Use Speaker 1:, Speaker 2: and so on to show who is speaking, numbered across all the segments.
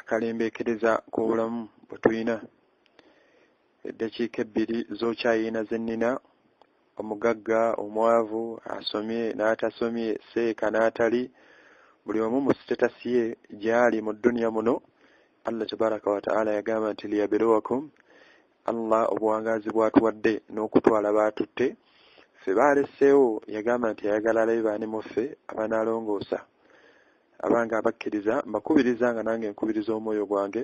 Speaker 1: akalembekereza k'obulamu bwe tulina eddakiika ebbiri z'okyayiina ze nnina omugagga omwavu asomye n'atasomye seeka n'atali buli omu mu sitetasi ye gy'ali mu dduniya muno allah tabaraka wataala yagamba nti liyabirowakum allah obuwangaazi bwatuwadde n'okutwala baatutte ffe baaleseewo yagamba nti ayagala alabe baani muffe abanaalongoosa Abange abakkiriza mbakubiriza nga nange nkubiriza omwoyo gwange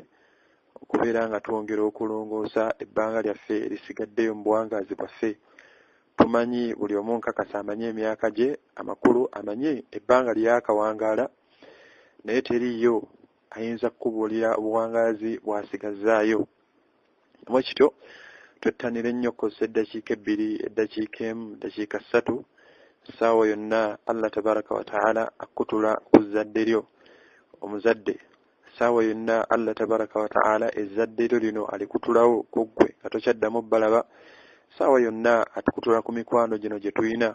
Speaker 1: okubeera nga twongera okulongoosa ebbanga lyaffe erisigaddeyo mu buwangaazi bwaffe tumanyi buli omu nkakasa amanyi emyaka gye amakulu amanyi ebbanga lyeyakawangaala naye teriiyo ayinza kukubuulira obuwangaazi bw'asigazzaayo bwe kityo twettanire nnyo okukozesa eddakiika ebbiri eddakiika emu eddakiika ssatu essaawa yonna allah tabaraka wataala akutula ku zzadde lyo omuzadde essaawa yonna allah tabaraka wataala ezzadde lyo lino alikutulawo ku ggwe nga tokyaddamu balaba essaawa yonna atukutula ku mikwano gino gye tulina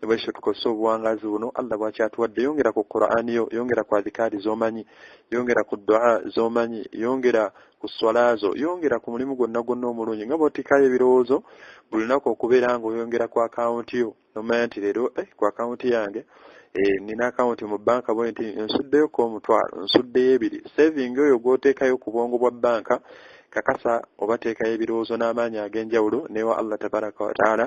Speaker 1: nebwekyo tukozesa obuwangazi buno allah bwakyatuwadde yongera ku qurani yo yongera ku adhikaari zomanyi yongera ku dua zomanyi yongera ku swalazo yongera ku mulimu gwonna gwonna omulungi nga bwotikayo ebirowoozo buli lunaku okubeera nga oyongera ku akawunti yo nomanya nti leero eh, ku akawunti yange eh, nina akawunti mu banka bwe nti nsuddeyo ko omutwalo nsuddeyo ebiri saving oyo gwotekayo ku bwongo bwa banka kakasa obateekayo ebirowoozo n'amaanyi ag'enjawulo newa allah tabaraka wataala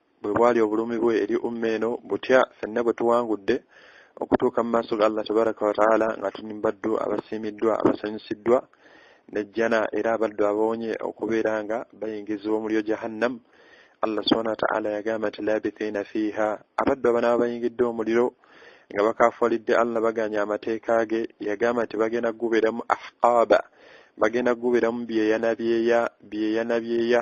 Speaker 1: bwe bwali obulumi bwe eri umma eno butya fenna bwe tuwangudde okutuuka mu maaso ga allah tabaraka wataala nga tuli mubaddu abasiimiddwa abasanyusiddwa nejjana era abaddu abawonye okubeera nga bayingizibwa omulyo jahannam allah subhana wataala yagamba nti labithiina fiiha abaddu abanaba bayingidde omuliro nga bakafualidde allah baganye amateeka ge yagamba nti bagenda kugubeeramu ahqaaba bagenda kugubeeramu byeyanabyeya byeyanabyeya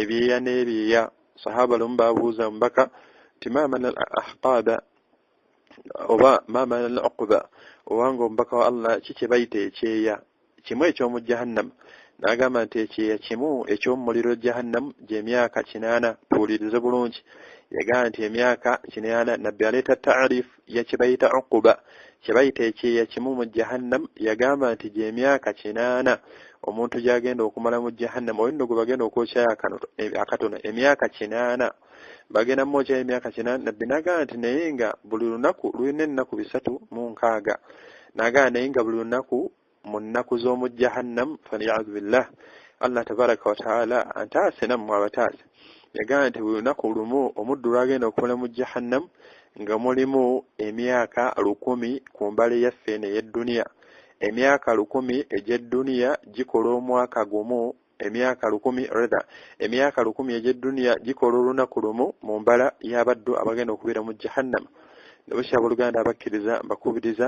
Speaker 1: ebyeya n'ebyeya sahaba lumu babuuza omubaka nti mamana al ahqaada oba mamana al uquba obanga omubaka wa allah ki kye bayita ekyeya kimu eky'omu jahannama n'agamba nti ekyeya kimu eky'omumuliro jahannamu gy'emyaka kinaana tuwulirize bulungi yagamba nti emyaka kinaana nabbi aleeta taarifu ya kyebayita ukuba kyebayita ekyeya kimu mu jahannam yagamba nti gyemyaka kinaana omuntu gyagenda okumala mu jahannam oyo nno gwe bagenda okwokyayo akatono emyaka kinaana bagenda mumwokyayo emyaka kinaana nabbi nagamba nti naye nga buli lunaku lulina ennaku bisatu mu nkaaga nagamba naye nga buli lunaku mu nnaku z'omu jahannam faliyazu billah allah tabaraka wataala antaase nammwe abataase yagamba nti buli lunaku lumu omuddu lwagenda okukola mu jahannam nga mulimu emyaka lukumi ku mbale yaffe eno ey'edduniya emyaka lukumi egy'edduniya gikola omwaka gumu emyaka lukumi redha emyaka lukumi egy'edduniya gikola olunaku lumu mu mbala y'abaddu abagenda okubeera mu jahannam nebukya abooluganda abakkiriza mbakubiriza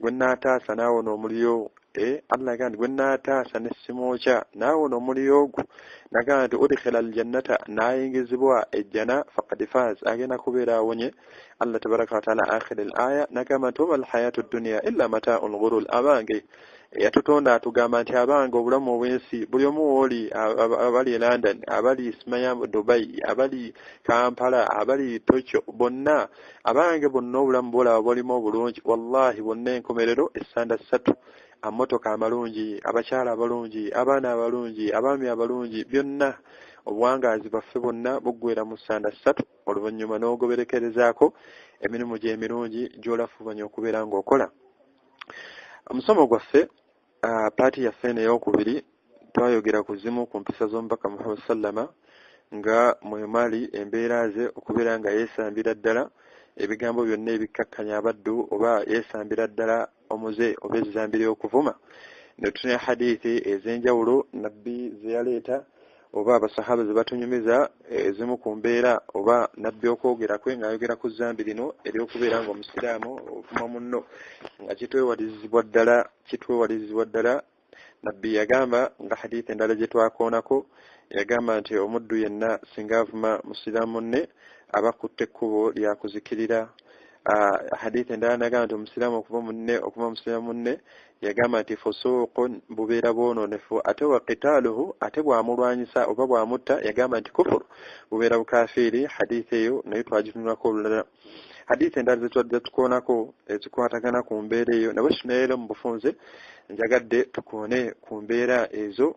Speaker 1: gwe naataasa naawona omuliro e allah agamba nti gwe naataasa ne simwokya naawona omuliro ogwo nagamba nti udikhila aljannata naayingizibwa ejjana fakad faaz agenda kubeera awonye allah tabaraka wataala akhira al aya nagamba nti wama alhayatu dduniya illa mataau lghurul abange yatutonda atugamba nti abange obulamu obwensi buli omu wooli abali e london abali smaya dubai abali kampala abali tokyo bonna abange bonna obulamu bolaba bolimu obulungi wallahi bonna enkomerero essanda ssatu amotoka amalungi abakyala abalungi abaana abalungi abaami abalungi byonna obuwangaazi baffe bonna buggwera mu ssanda ssatu oluvannyuma n'ogoberekerezaako emirimu gy'emirungi gy'olafubanya okubeera ng'okola omusomo gwaffe Uh, paati yaffe eno eyokubiri twayogera ku zimu ku mpisa z'omubaka muhammad sallama nga mwemali embeera ze okubeera nga yeesambira ddala ebigambo byonna ebikkakkanya abaddu oba yeesambira ddala omuze oba ezizambira okuvuma ne tutunya hadithi ez'enjawulo nabbi ze yaleeta oba abasahaba ze batunyumiza eh, ezimu ku mbeera oba nabbi okwogera kwe ng'ayogera ku zambi lino ery'okubeera nga omusiraamu ovuma munno nga kitwewalirizibwa ddala kitwewalirizibwa ddala nabbi yagamba nga hadithi endala gye twakoonako yagamba nti omuddu yenna singa avuma musiraamu munne aba kutte ekkubo lyakuzikirira ah, hadithi endala nagamba nti omusiraamu okuva munne okuva musiraamu munne yagamba nti fusuuqun bubeera bwononefu ate wa kitaaluhu ate bwamulwanyisa oba bwamutta yagamba nti kufuru bubeera bukafiiri haditha eyo naye twagitunulako olulala haditha endala zetwadde tukoonako ezikwatagana ku mbeera eyo nabwe kino leero mu bufunze njagadde tukoone ku mbeera ezo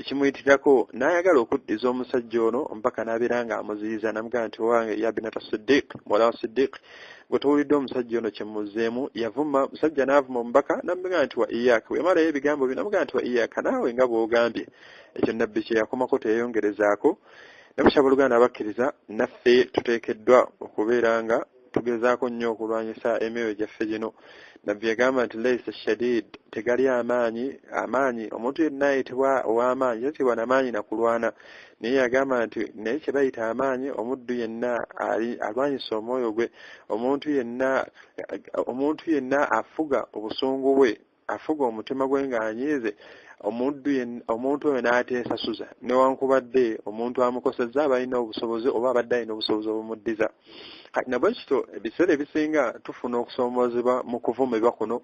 Speaker 1: ekimuyitirako n'ayagala okuddiza omusajja ono mpaka n'abeera nga amuziyiza namugamba nti owange ya binata sidiq muwala wa sidiq gwe towulidde omusajja ono kyemuzeemu yavuma musajja n'avuma omubaka namugamba nti wa iyaka wemalayo ebigambo byo namugamba nti wa iyaka naawe nga bw'ogambye ekyo nabbi kye yakomako teyayongerezaako ne bukyaba oluganda abakkiriza naffe tuteekeddwa okubeera nga tugezaako nnyo okulwanyisa emyoyo gyaffe gino nabbi yagamba nti laisa shadid tegali amaanyi amaanyi omuntu yenna ayitibwa ow'amaanyi tatibwa namaanyi nakulwana naye yagamba nti naye kye bayita amaanyi omuddu yenna alwanyisa omwoyo gwe omuntu yenna omuntu yenna afuga obusungu bwe afuga omutima gwe ng'anyiize omuntu omuntu oyo n'ateesasuza newankubadde omuntu amukosezza abalina obusobozi oba abadde alina obusobozi obumuddiza kati nabwe kityo ebiseera ebisinga tufuna okusoomoozebwa mu kuvumibwa kuno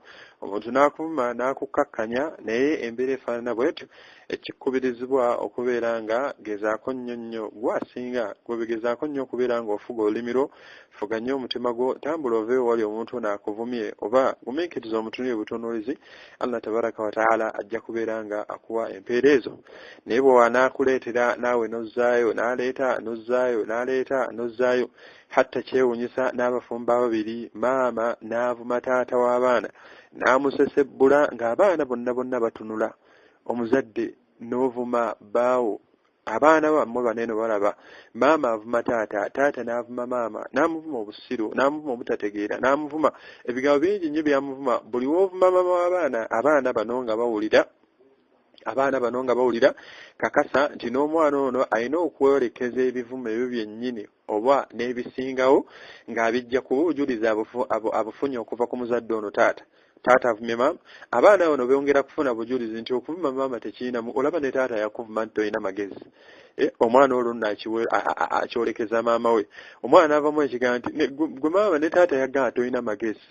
Speaker 1: omuntu n'akuvuma n'akukkakkanya naye embeera efaanana bwetyo ekikubirizibwa okubeera nga gezaako nnyo nnyo gwasinga gwebigezaako nnyo okubeera nga ofuga olulimi lwo fuga nnyo omutima gwo tambula ove ewali omuntu ono akuvumye oba gumiikiriza omutunire butunuulizi allah tabaraka wataala ajja kubeera nga akuwa empeera ezo naye bwe wanaakuleetera naawe nozzaayo n'aleeta nozzaayo n'aleeta nozzaayo hatta kyewunyisa n'abafumba babiri maama n'avuma taata w'abaana n'amusesebbula ng'abaana bonna bonna batunula omuzadde n'ovuma baawo abaana bammwe baneno balaba maama avuma taata taata n'avuma maama n'amuvuma obusiru n'amuvuma obutategeera n'amuvuma ebigambo bingi nnyo byamuvuma buli w'ovuma maama w'abaana abaana bano nga bawulira abaana bano nga bawulira kakasa nti n'omwana ono alina okwolekeza ebivumo ebyo byennyini oba n'ebisingawo ng'abijja kuba obujulizi abufunye okuva ku muzadde ono taata taata avumye maama abaana bano beyongera kufuna bujulizi nti okuvuma maama tekiyinamu olaba ne taata yakuvuma nti tolina magezi eh, omwana olwo nno akyolekeza maama we omwana avamu ekigaa nti gwe maama ne taata yagaa tolina magezi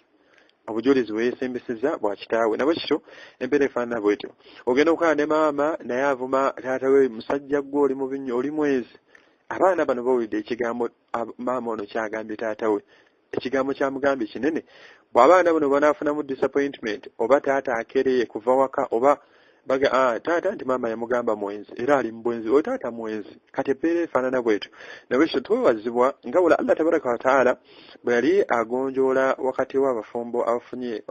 Speaker 1: obujulizi bweyesembeseza bwa kitaawe nabwe kityo embeera efaanana bwetyo ogenda okukaa ne maama naye avuma taata we musajja gwe oli mubi nnyo oli mwezi abaana bano bawulidde ekigambo maama ono kyagambye taata we ekigambo kyamugambye kinene bw'abaana buno banaafunamu disappointment oba taata akereye kuva waka oba baga ah, taata nti maama yamugamba mwenzi era ali mubwenzi oyo taata mwenzi kati ebbeera efaanana bwetyo nabwekyo twewazibwa nga wala allah tabaraka wataala bwe yali agonjoola wakati w'abafumbo abafunye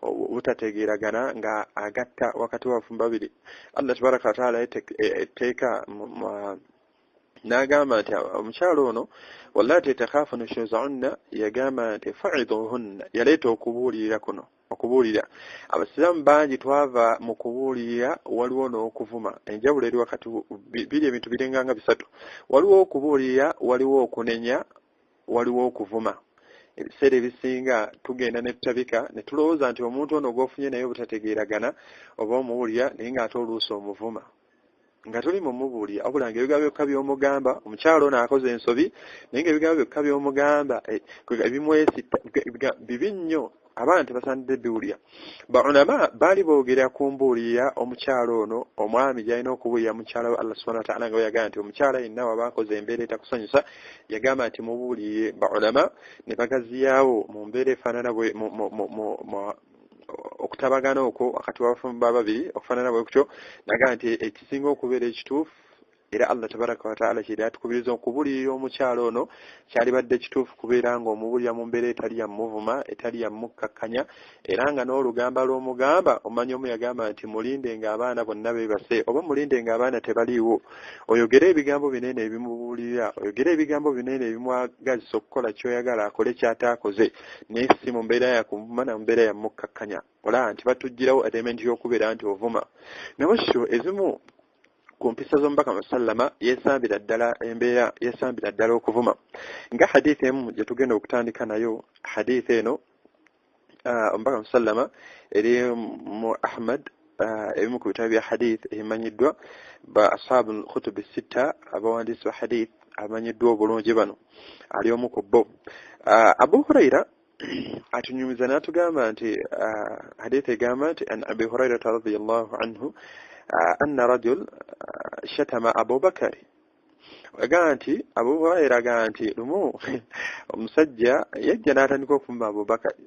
Speaker 1: obutategeeragana nga agatta wakati w'abafumbo babiri allah tabaraka wataala etteeka e, e, n'agamba nti omukyalo ono wallati takhafu nushuzahunna yagamba nti faidhuhunna yaleeta okubuulirira kuno okubuulira abasiraamu bangi twava mu kubuulirira waliwo n'okuvuma enjawulo eri wakati biri ebintu birenganga bisatu waliwo okubuulirira waliwo okunenya waliwo okuvuma ebiseera ebisinga tugenda ne tutabika ne tulowooza nti omuntu ono gw'ofunye naye obutategeeragana oba omuwulira naye ng'ate oluusi omuvuma nga tuli mu mubuulira wabula nga ebigambo byokka by'omugamba omukyalo ono akoze ensobi naye nga ebigambo byokka by'omugamba eh, ebimwesitta bibi nnyo abaana tebasaanidde biwulira baulama baali boogera ku mbuulira omukyalo ono omwami gyalina okubuulira mukyala we allah subhana wataala nga weyagamba nti omukyala yenna waba akoze embeera etakusanyusa yagamba nti mubuulire baulama ne bagaziyaawo mu mbeera efaanana okutabagana okwo wakati wabafumbo babiri okufanana bwe kutyo naga nti ekisinga okubeera ekituufu era allah tabaraka wataala kyeri atukubiriza okubulirira omukyalo ono kyalibadde kituufu kubeera nga omubulira mu mbeera etali yamuvuma etali yamukkakkanya era nga n'olugamba lw'omugamba omanya omu yagamba nti mulinde nga abaana bonna bebase oba mulinde nga abaana tebaliiwo oyogere ebigambo binene ebimubulirira oyogere ebigambo binene ebimwagazisa okukola kyoyagala akole kyataakoze naye si mu mbeera ya kuvuma na mbeera ya mukkakkanya olaba nti batugirawo element y'okubeera nti ovuma nabo sho ezimu ku mpisa z'omubaka musallama yesambira ddala embeera yesambira ddala okuvuma nga hadith emu gye tugenda okutandika nayo hadith eno omubaka musallama eri mu ahmad Ah, ebimu ku bitabo bya hadith ebimanyiddwa ba ashabu lkhutubi sitta abawandiisi ba hadith abamanyiddwa obulungi bano ali omu ku bo ah, abu huraira atunyumiza n'atugamba nti ah, hadith egamba nti an abi hurairata radiallahu anhu anna rajul shatama abubakari agamba nti abu huraira agamba nti lumu omusajja yajja n'atandika okuvuma abubakari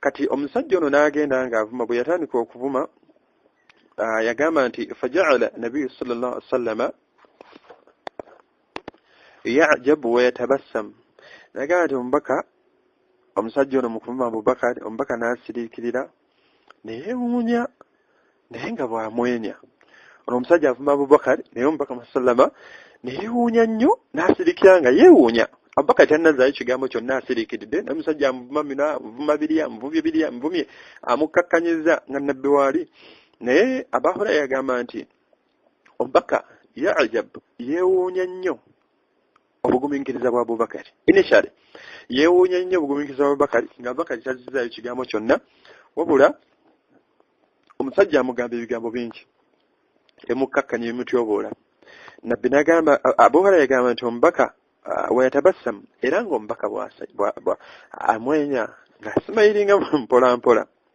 Speaker 1: kati omusajja ono n'agenda ng'avuma bwe yatandika okuvuma ah, yagamba nti fajaala nabiyu sal llah ali sallama yajabu weyatabassamu nagamba nti omubaka omusajja ono mukuvuma abubakari omubaka n'asiriikirira neyewuunya naye nga bwamwenya ono omusajja avuma abubakari naye omubaka musalama neyewuunya nnyo n'asirikira nga yeewuunya abubakari tannazaayo kigambo kyonna asirikiridde naye omusajja amuvuma bino amuvuma biri amuvumye biri amuvumye amukkakkanyiza nga nabbi waali naye abahura yagamba nti omubaka ya ajabu yeewuunya nnyo obugumiikiriza bwa abubakari initially yeewuunya nnyo obugumiikiriza bwa abubakari nga abubakari tazzizaayo kigambo kyonna wabula omusajja amugamba ebigambo bingi emukkakkanya ebimutyoboola nabbi nagamba abuhara yagamba nti omubaka uh, weyatabassamu era ngaomubaka amwenya ngasimayiringa mpolampola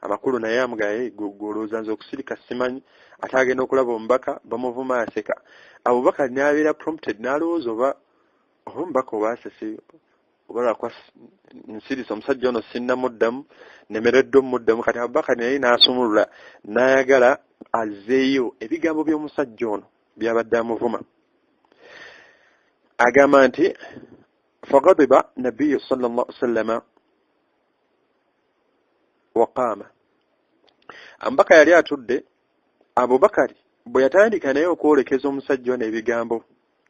Speaker 1: amakulu naye amugaye gwolowooza nze okusirika simanyi ate agenda okulaba omubaka bamuvuma aseka abubakar nabeera prompted nalowooza oba oba omubaka oba asese oba lwakwa nsirisa omusajja ono sinnamuddamu nemeredde omuddamu kati abubakar naye nasumulula nayagala azzeeyo ebigambo by'omusajja ono byabadde amuvuma agamba nti fagadiba nabiyu sal llah salama waqaama ambaka yali atudde abubakari bwe yatandika naye okwolekeza omusajja ono ebigambo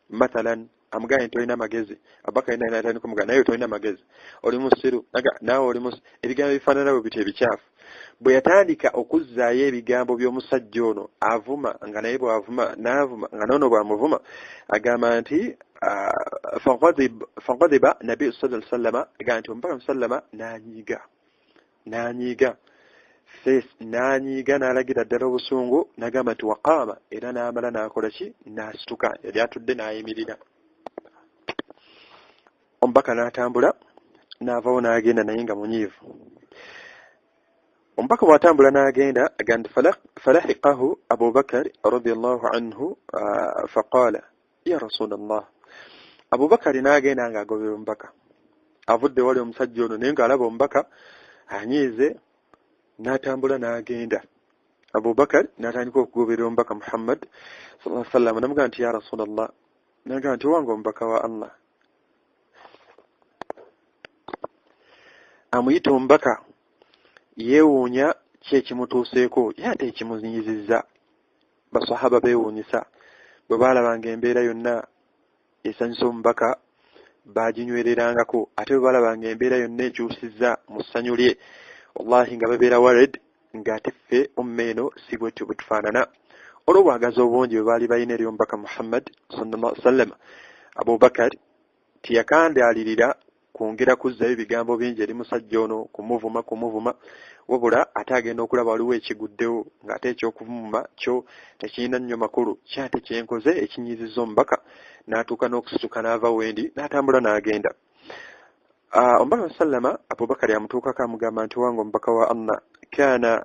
Speaker 1: mathalan amugambye nti olina amagezi abubakari naye natandika omugamba naye tolina magezi oli musiru naawe oli musiru ebigambo ebifaanana bwe bityo ebikyafu bwe yatandika okuzzaayo ebigambo by'omusajja ono avuma nga naye bw'avuma n'avuma nga noono bw'amuvuma agamba nti faghadiba nabi sala sallama aga nti omubaka musallama nanyiiga nanyiiga fes nanyiiga n'alagira ddala obusungu nagamba nti waqaama era n'amala n'akola ki n'asituka yali atudde n'ayimirira omubaka n'atambula n'avawo n'agenda naye nga munyiivu omubaka bw'atambula n'agenda aga nti falahiqahu abubakari radiallahu anhu faqaala ya rasulallah abubakari n'agenda ng'agobera omubaka avudde wali omusajja ono naye ng'alaba omubaka anyiize n'atambula n'agenda abubakari n'atandika okugoberera omubaka muhammad saa sallama namugamba nti ya rasulallah nagamba nti owange omubaka wa allah amuyita omubaka yeewuunya ki ekimutuuseeko ye ate ekimunyizizza basahaba beewuunyisa bwe baalabanga embeera yonna esanyusa omubaka baaginywererangako ate bwe baalabanga embeera yonna ekyusizza mu ssanyu lye wallahi nga babeera wared ng'ate ffe umma eno si bwetyo bwe tufaanana olw'obwagazi obungi bwe baali balina eri omubaka muhammad sallallahu alaihi wasallama abubakari Teyakandaalirira kwongera kuzzayo bigambo bingi eri musajja ono kumuvuma kumuvuma wabula ate agenda okulaba waliwo ekiguddewo ng'ate eky'okuvumuma kyo tekirina nnyo makulu kyo ate kye nkoze ekinyiizizza omubaka n'atuuka n'okusituka n'ava wendi n'atambula n'agenda ah, omubaka sallama abubakari amutuukako amugamba nti wange omubaka wa allah kana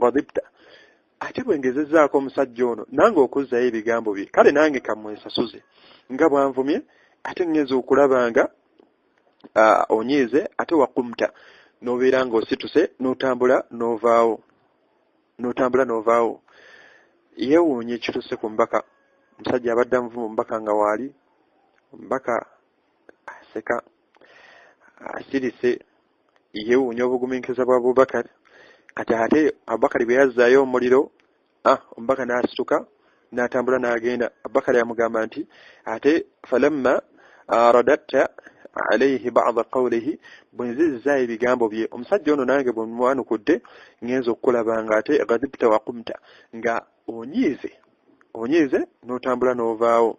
Speaker 1: ghadibta ate bwe ngezezaako omusajja ono nange okuzzayo ebigambo bye kale nange kamwesasuze nga bwanvumye ate ngenza okulaba nga onyiize ate wakumta n'obeera ng'osituse n'otambula n'ovaawo n'otambula n'ovaawo yeewuunya ekituuse ku mbaka omusajja abadde amuvuma omubaka nga waali omubaka aseka asirise yewuunya obuguminkiriza bwa abubakar kati ate abubakari bwe yazzaayo omuliro ah, omubaka n'asituka n'atambula n'agenda abubakari amugamba nti ate falamma ah, radatta alaihi bada qawlihi bwe nzizza ebigambo bye omusajja ono nange bwe mwanukudde ngenza okukulaba nga ate gadibta wakumta nga onyiize onyiize n'otambula n'ovaawo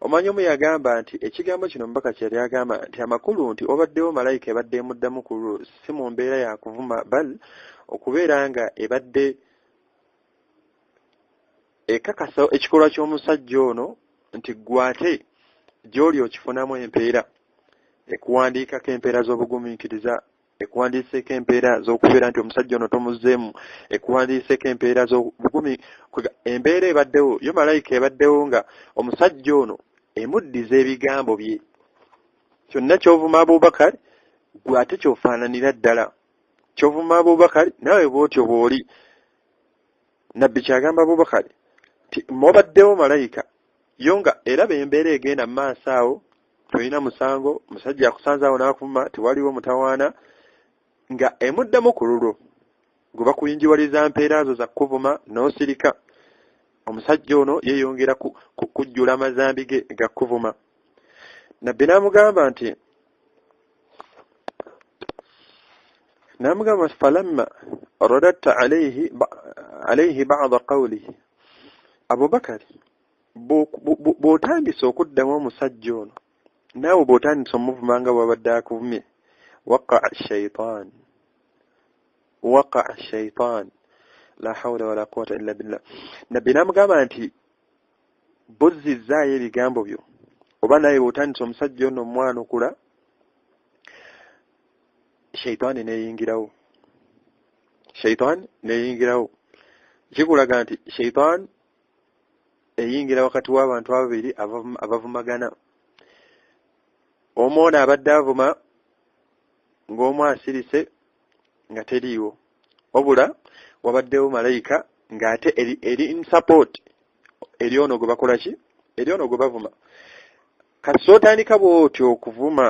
Speaker 1: omanya omu yagamba nti ekigambo kino omubaka kye yali agamba nti amakulu nti obaddewo malayika ebadde emuddamu ku lwo si mu mbeera ya kuvuma bal okubeera nga ebadde ekakasa ekikolwa ky'omusajja ono nti gwate gy'oli okifunamu empeera ekuwandiikako empeera z'obugumiikiriza ekuwandiiseeko empeera z'okubeera nti omusajja ono tomuzzeemu ekuwandiiseeko empeera z'obugumi embeera ebaddewo yo malayika ebaddewo nga omusajja ono emuddiza ebigambo bye kyonna kyovuma abubakari gwe ate kyofaananira ddala kyovuma abubakari naawe bwotyo bw'oli nabbi kyagamba abubakari nti mubaddewo malayika yo nga era bembeera egenda mu maaso awo tolina musango musajja akusanze awo n'akuvuma tewaliwo mutawaana nga emuddamu ku lulwo gwe bakuyinjiwaliza mpeera zo za kukuvuma n'osirika omusajja ono yeeyongera kujjula amazambi ge ga kukuvuma nabbi n'amugamba nti n'amugamba nti falamma radatta alaihi bada qawlihi abubakari bw'otandise okuddamu omusajja ono naawe bw'otandise omuvuma nga bwabadde akuvumye waka shaitan waka shaitan la haula wala quwata illa billah nabbi namugamba nti buzzizzaayo ebigambo byo oba naye bw'otandise omusajja ono omwanukula shaitaani neyingirawo shaitaani neyingirawo kikulaga nti shaitaani eyingira wakati w'abantu ababiri abavumagana omu ono abadde avuma ng'omu asirise nga teriiwo wabula wabaddewo malayika ng'ate eri, eri in support eri ono gwe bakola ki eri ono gwe bavuma kati sootandika bw'otyo okuvuma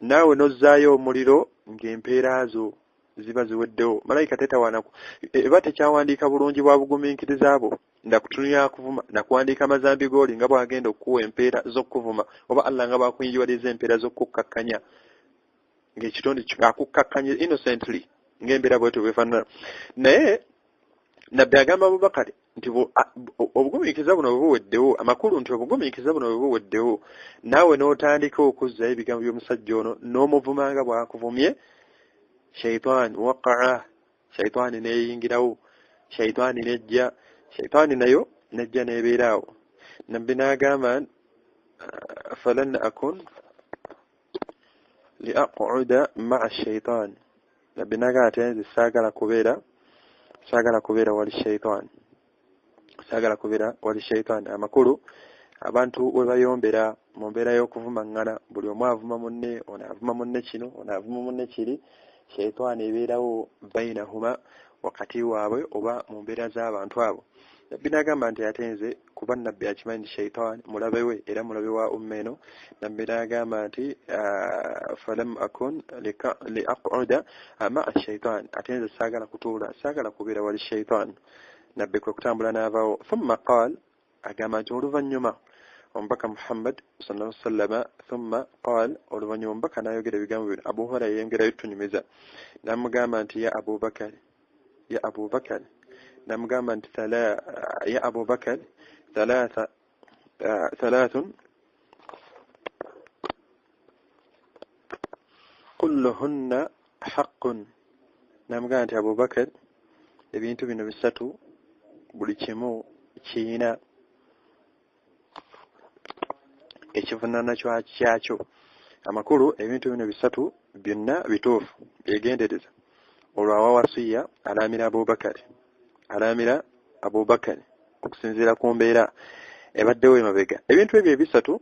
Speaker 1: naawe n'ozzaayo omuliro ng'empeera zo ziba ziweddewo malayika tetawaana e, eba tekyawandiika bulungi bwa bugumiikiriza bwo nga kutunulira akuvuma nakuwandiika amazambi gooli nga bwagenda okukuwa empeera z'okukuvuma oba allah nga bwakuyinjiwaliza empeera z'okukukkakkanya ng'ekitonde akukkakkanya innocently ng'embeera bwetyo bwefaanana naye nabbi agamba abubakari nti obugumiikiriza buno bwe buweddewo amakulu nti obugumiikiriza buno bwe buweddewo naawe n'otandika okuzzayo ebigambo by'omusajja ono n'omuvuma nga bw'akuvumye shaitaani waqaa shaitaani n'eyingirawo shaitaani n'ejja shaitaani nayo n'ejja n'ebeeraawo nabbi n'agamba falan akun liaquda maa shaitan nabbi nagamba nti nze saagala kubeera saagala kubeera wali shaitan saagala kubeera wali shaitan amakulu abantu we bayombera mu mbeera y'okuvumaŋŋana buli omu avuma munne ono avuma munne kino ono avuma munne kiri shaitaani ebeerawo bainahuma wakati waabwe oba mu mbeera z'abantu abo nabbi nagamba nti ate nze kuba nabbi akimanyi nti shaitan mulabe we era mulabe wa umma eno nabbi naagamba nti ah, falam akun liaquda maa shaitan ate nze saagala kutuula saagala kubeera wali shaitan nabbi kwe kutambula n'avaawo thumma qaal agamba nti oluvannyuma omubaka muhammad salaa wasallama thumma qaal oluvannyuma omubaka naayogera ebigambo bino abu hurayra yayongerayo tunyumiza namugamba nti ya abubakari ya abubakar namugamba nti ya abubakar thalatha thalathun kulluhunna haqqun namugamba nti abubakar ebintu bino bisatu buli kimu kiyina ekivunaana kyakyo amakulu ebintu bino bisatu byonna bituufu byegendereza olwo awa wasiya alaamira abubakari alaamira abubakari okusinziira ku mbeera ebaddewo emabega ebintu ebyo ebisatu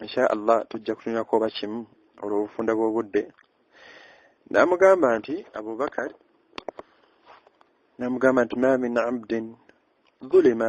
Speaker 1: insha allah tujja kutunirako oba kimu olw'obufunda bw'obudde n'amugamba nti abubakari n'amugamba nti ma min abdin zulima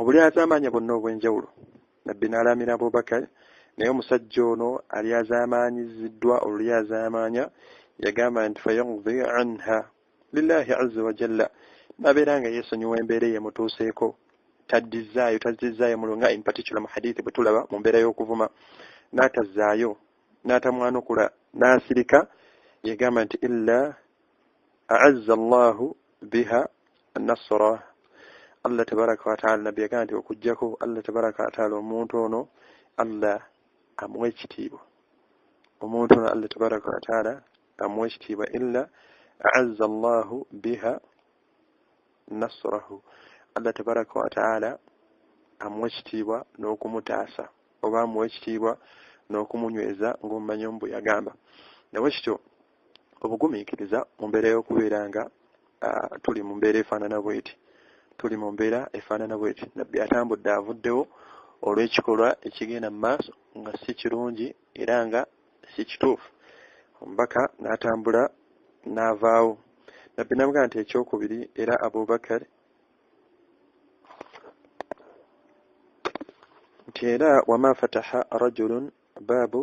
Speaker 1: Obulyazamanya bwonna obwenjawulo, Nabbi n'alaamira Abubakar, naye omusajja ono alyazaamaanyiziddwa olulyazaamaanya yagamba nti, Fayaqdi anha Lillaahi Azza wa Jalla, n'abeera nga yeesonyiwa embeera eyeemutuuseeko, taddizzaayo, tazizzaayo mulo nga in particular mu hadithi bwe tulaba mu mbeera y'okuvuma, n'atazzaayo, n'atamwanukula, n'asirika, yagamba nti, Illa aazza allahu biha nasra allah tabaraka wataala nabbi yagamba nti okugjako allah tabaraka wataala omuntu ono allah amuwa ekitiibwa omuntu ono allah tabaraka wataala amuwa ekitiibwa illa aazza allahu biha nasrahu allah tabaraka wataala amuwa ekitiibwa n'okumutaasa oba amuwa ekitiibwa n'okumunyweza ng'omumanyi omu bwe yagamba nawe kityo obugumiikiriza mu mbeera y'okubeera nga tuli mu mbeera efaanana bweti tuli mu mbeera efaanana bweti nabbi atambudde avuddewo olw'ekikolwa ekigenda mu maaso nga si kirungi era nga si kituufu omubaka n'atambula n'avaawo nabbi nabuga nti ekyokubiri era abubakar nti era wama fataha rajulun baabu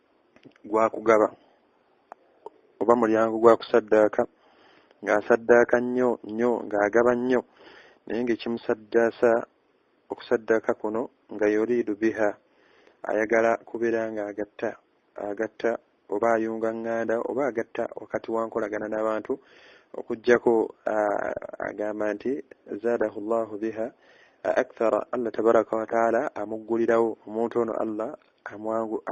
Speaker 1: gwa kugaba oba mulyango gwa kusaddaaka ng'asaddaaka nnyo nnyo ng'agaba nnyo naye ng'ekimusaddaasa okusaddaaka kuno nga yuriidu biha ayagala kubeera ng'agatta agatta oba ayunga ŋŋanda oba agatta wakati wa nkolagana n'abantu okugyako agamba nti zaadahu llahu biha akthara allah tabaraka wataala amuggulirawo omuntu ono allah amwangu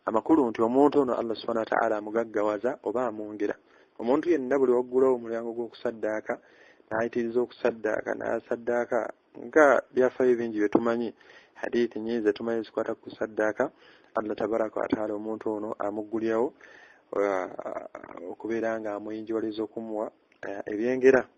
Speaker 1: amakulu nti omuntu ono allah subhana wataala amugaggawaza oba amwongera omuntu yenna buli waggulawo omulyango gw'okusaddaaka n'ayitiriza okusaddaaka n'asaddaaka nga byafaayo bingi bye tumanyi hadithi nyingi zetumanyi zikwata ku kusaddaaka allah tabaraka wataala omuntu ono amuggulirawo uh, okubeera nga amuyinjiwaliza okumuwa uh, ebyengera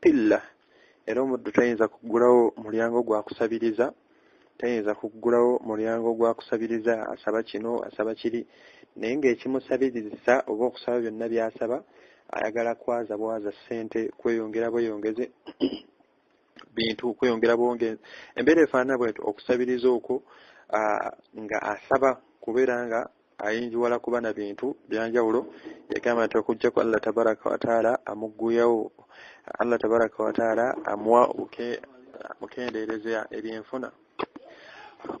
Speaker 1: pilla era omuddu tayinza kuggulawo mulyango gwa kusabiriza tayinza kuggulawo mulyango gwa kusabiriza asaba kino asaba kiri naye ng'ekimusabirizisa oba okusaba byonna by'asaba ayagala kwaza bwaza ssente kweyongera bweyongeze bintu kweyongera bwonge embeera efaanana bwenti okusabiriza okwo nga asaba kubeera nga ayinjiwala kuba na bintu byanjawulo yagamba nti okujjako allah tabaraka wataala amugguyawo allah tabaraka wataala amuwa mukendeereza ebyenfuna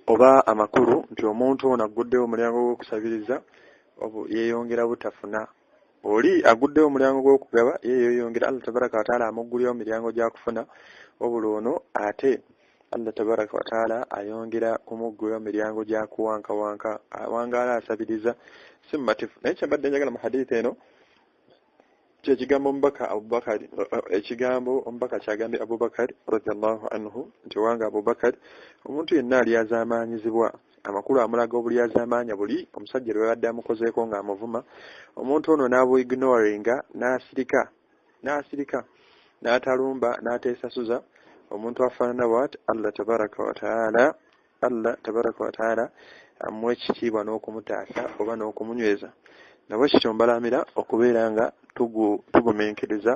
Speaker 1: oba amakulu nti omuntu ono agguddewo omulyango gw'okusabiriza yeyongera butafuna oli aguddewo omulyango gw'okugaba ye yoyongera allah tabaraka wataala amuggulira mu miryango gyakufuna wabula ono ate allah tabaraka wataala ayongera kumuggulira mu miryango gyakuwankawanka awangaala asabiriza si mumatifu naye kyembadde njagala mu haditha eno kyekigambo omubaka abubakari ekigambo omubaka kyagambye abubakari radiallahu anhu nti owanga abubakari omuntu yenna alyazamaanyizibwa amakulu amulaga obulyazamaanya buli omusajja lwe yabadde amukozeeko ng'amuvuma omuntu ono n'abuignoringa n'asirika n'asirika n'atalumba n'ateesasuza omuntu afaanana wat allah tabaraka wataala allah tabaraka wataala amuwa ekitiibwa n'okumutaasa oba n'okumunyweza nabwe kityo mbalamira okubeera nga tugumenkereza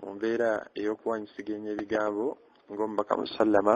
Speaker 1: mu mbeera ey'okuwanyisigeenya ebigambo ng'omubaka musallama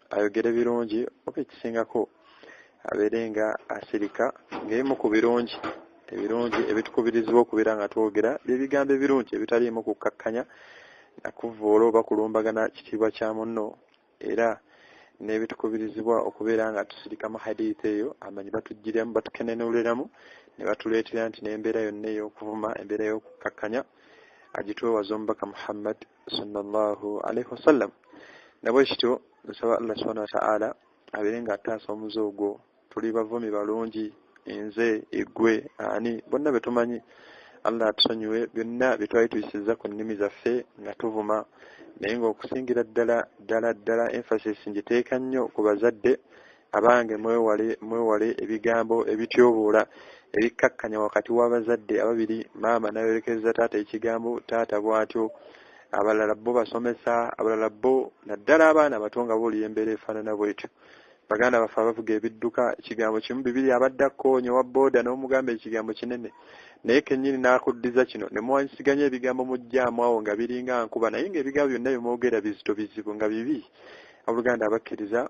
Speaker 1: ayogere birungi oba ekisingako abeere nga asirika ng'ebimu ku birungi ebirungi ebitukubirizibwa okubeera nga twogera byebigambo ebirungi ebitaliimu kukkakkanya nakuvvoola oba kulumbagana kitiibwa kya munno era n'ebitukubirizibwa okubeera nga tusirika mu haditha eyo amanyi batugiremu batukenenuliramu ne batuleetera nti n'embeera yonna ey'okuvuma embeera y'okukkakkanya agitwewaza omubaka muhammad sallallahu alaihi wasallam nabwe kityo nsaba allah subhanahu wa ta'ala abeere nga ataasa omuze ogwo tuli bavumi balungi enze egwe ani bonna betumanyi allah atusonyiwe byonna byetwali tuyisiza ku nnimi zaffe nga tuvuma naye ngaokusingira ddala ddala ddala emphasis ngiteeka nnyo ku bazadde abange mwewale mwewale ebigambo ebityoboola ebikkakkanya wakati w'abazadde ababiri maama nayolekereza taata ekigambo taata bw'atyo abalala bo basomesa abalala bo naddala abaana abato nga boolira embeera efaanana bwetyo baganda baffe abavuga ebidduka ekigambo kimu bibiri abadde akkoonye owa booda n'omugamba ekigambo kinene naye kennyini n'akuddiza kino ne muwanyisiganya ebigambo mujjaamu awo nga biringa nkuba naye ng'ebigambo byonna bye mwogera bizito bizibu nga bibi abooluganda abakkiriza